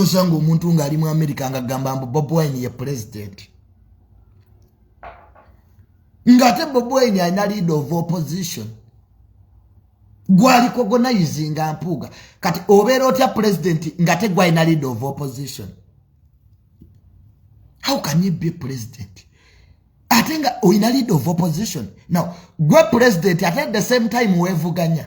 osanga omuntu nga ali mu america nga gamba mbu bob wine ye president nga ate bob wine alina leader of opposition gwaliko gonayizinga mpuuga kati obeera otya president nga te gwalina leader of opposition how can you be president ate nga olina leader of opposition now gwe president ate at the same time wevuganya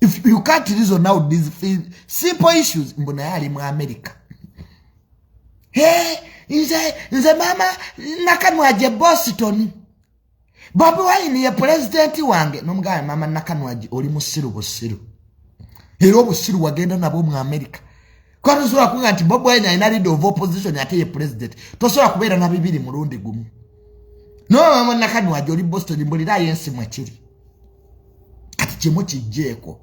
if you can't reason out these simple issues mbu naye ali mu america hey, nze nze mama nakanwaje boston bobi wine ye pulezidenti wange nomugamba mama nakanwaji oli musiru busiru era obusiru wagenda nabwo mu america kuba tosobola kuga nti bobi wine alina leader of opposition ate ye pulezidenti tosobola kubeera na bibiri mulundi gumu nomama nakanwaji oli boston mbulirayo ensi mwekiri kati kimu kijjeeko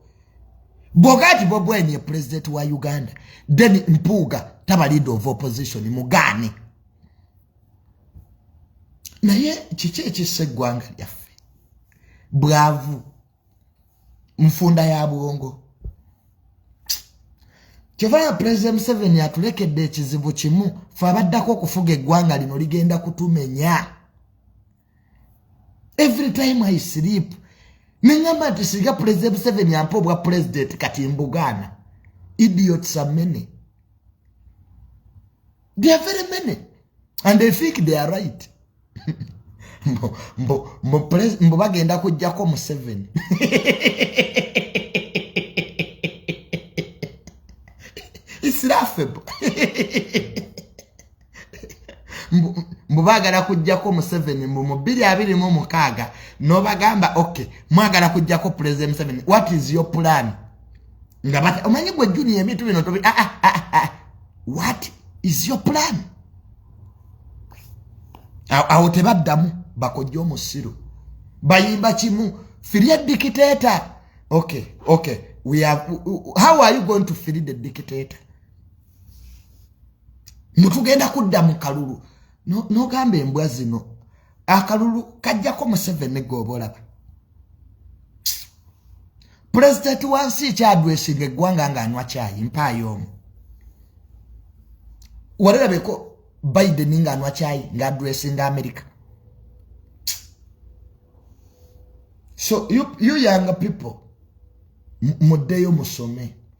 bwoga nti bobi wine ye pulezidenti wa uganda then mpuuga taba leader of opposition mugaane naye kiki ekissa eggwanga lyaffe bwavu nfunda ya bwongo kyovaya pulezidenti museveni atulekedde ekizibu kimu fe abaddako okufuga eggwanga lino ligenda kutumenya every time i sleep nengamba nti singa pulezidenti museveni ampa obwa pulezidenti kati mbugaana idiots are many they are very many and they think they are right mbu bagenda kujjako museveni it's laughable mbu bagala kujjako museveni mbu mu bbiri abiri mu mukaaga nobagamba ok mwagala kujjako pulezidenti museveni what is your plan nga bat omanyi gwe juni ebintu bino tobi ah, ah, ah, ah, ah. what is your plan awo tebaddamu bakojja omusiru bayimba kimu firie dictator ok ok we have, how are you going to free the dictator mutugenda kudda mu kalulu nogamba embwa zino akalulu kajjako museveni gooba olaba pulezidenti wansi kyadwesinga eggwanga nga anywa kyayi mpaayo omu walerabeko biden nga anywa kyayi nga adwesinga amerika so you, you young people muddeyo musome